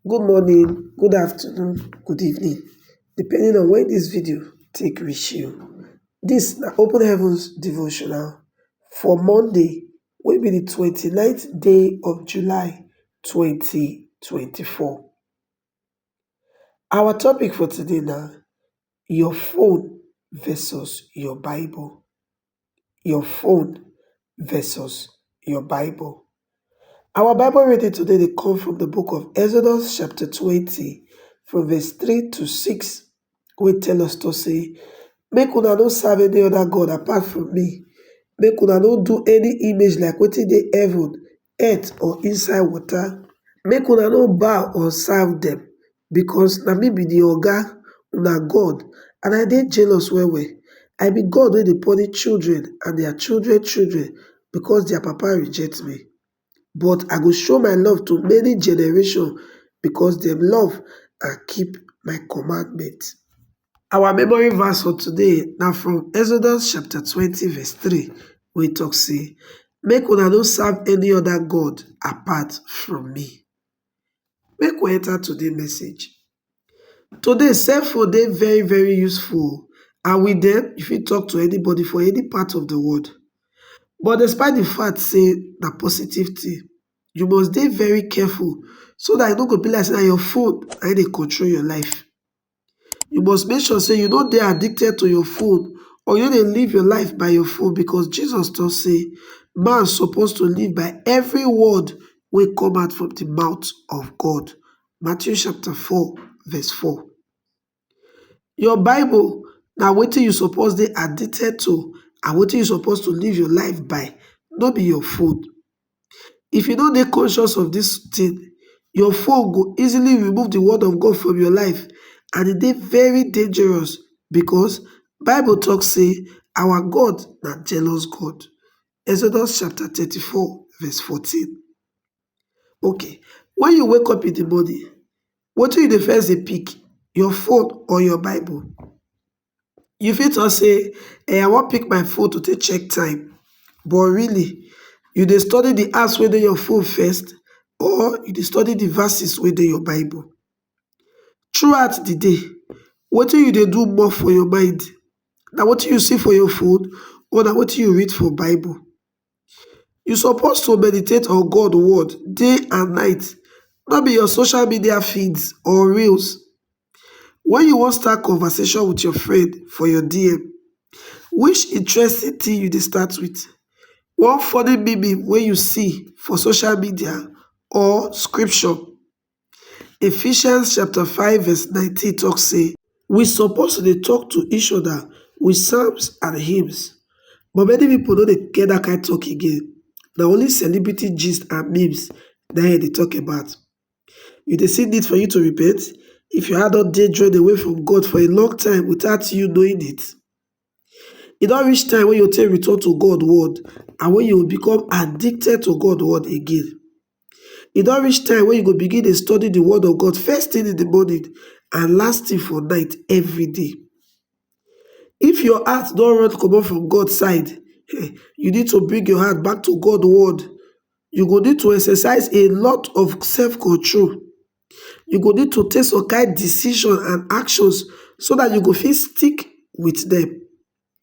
Good morning, good afternoon, good evening depending on wen dis video take reach you. Dis na open heavens devotional for Monday wey be di twenty nine day of July twenty twenty four. Our topic for today na your phone versus your bible. your phone versus your Bible. Our Bible reading today they come from the book of Exodus chapter 20 from verse 3 to 6 We tell us to say, Make una no serve any other God apart from me. Make una no do any image like what in the heaven, earth or inside water make una no bow or serve dem because na me be the oga una God and I dey jealous well well. I be God wey dey punish children and their children children because their papa reject me. But I go show my love to many generation because dem love and keep my commandment. Our memory verse for today na from Exodus chapter twenty verse three wey talk say make una no serve any other god apart from me. Make we enter today message. Today cell phone dey very very useful and with dem you fit talk to anybody for any part of the world but despite the fact say na positive thing you must dey very careful so that e no go be like say na your phone na im dey control your life. You must make sure sey you no dey addicted to your phone or you no dey live your life by your phone because Jesus talk sey man suppose to live by every word wey come out from de mouth of God. Matthew chapter four verse four. Your bible na wetin you suppose dey addicted to and wetin you suppose to live your life by, no be your phone. If you no dey conscious of dis thing, your phone go easily remove the word of God from your life and e dey very dangerous because bible talk say our God na jealous God. Exodus chapter thirty four verse fourteen. Okay when you wake up in the morning, wetin you dey first dey pick? Your phone or your bible? You fit talk sey I wan pick my phone to take check time but really you dey study de apps wey dey your phone first or you dey study de verses wey dey your bible. Through out de day wetin you dey do more for your mind na wetin you see for your phone or na wetin you read for bible. You suppose to meditate on God word day and night no be your social media feeds or reels Wen you wan start conversation with your friend for your DM, which interesting thing you dey start with? One funny meme wey you see for social media or scripture? Ephesians chapter five verse nineteen talk say, we suppose to dey talk to each other with psalms and hymns, but many people no dey get that kind talk again, na only celebrity gist and memes na im dem dey talk about. You dey see need for you to repent if your heart don dey drawn away from God for a long time without you knowing it? E don reach time wey you take return to God word and when you become addicted to God word again. E don reach time when you go begin dey study the word of God first thing in the morning and last thing for night every day. If your heart don run comot from God side, you need to bring your heart back to God word you go need to exercise a lot of self control, you go need to take some kind decision and actions so dat you go fit stick with dem.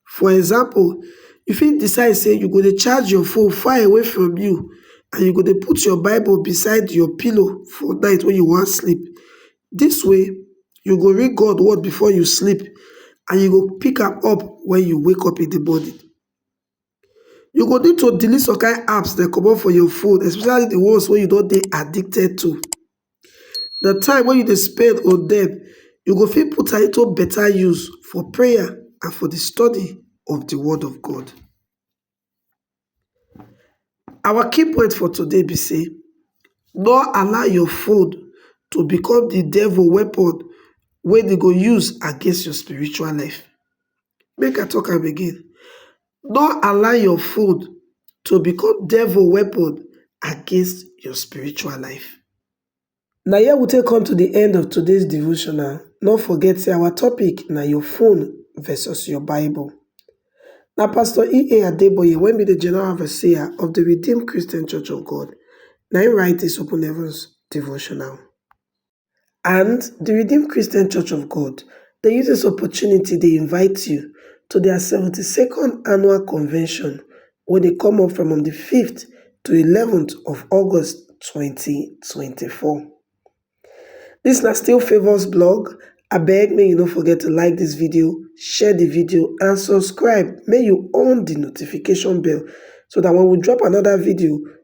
For example, you fit decide sey you go dey charge your phone far away from you and you go dey put your bible beside your pillow for night wen you wan sleep. Dis way you go read God word before you sleep and you go pick am up wen you wake up in de morning. You go need to delete some kind apps dem comot for your phone especially the ones wey you don dey addicted to. The time wey you dey spend on them, you go fit put am into better use for prayer and for the study of the word of God. Our key point for today be say no allow your phone to become the devil weapon wey dey go use against your spiritual life. Make I talk am again, no allow your phone to become devil weapon against your spiritual life. Na here we take come to the end of today's devotional. No forget say our topic na your phone versus your Bible. Na Pastor E.A. Adeboye wey be the General Overseer of the Redeemed Christian Church of God na him write this Open Heavens devotional. and di redeemed christian church of god dey use dis opportunity dey invite you to dia seventy second annual convention wey dey come up from on di fiveth to eleventh of august twenty twenty four dis na still favours blog abeg make you no forget to like dis video share di video and subscribe make you on di notification bell so dat wen we drop anoda video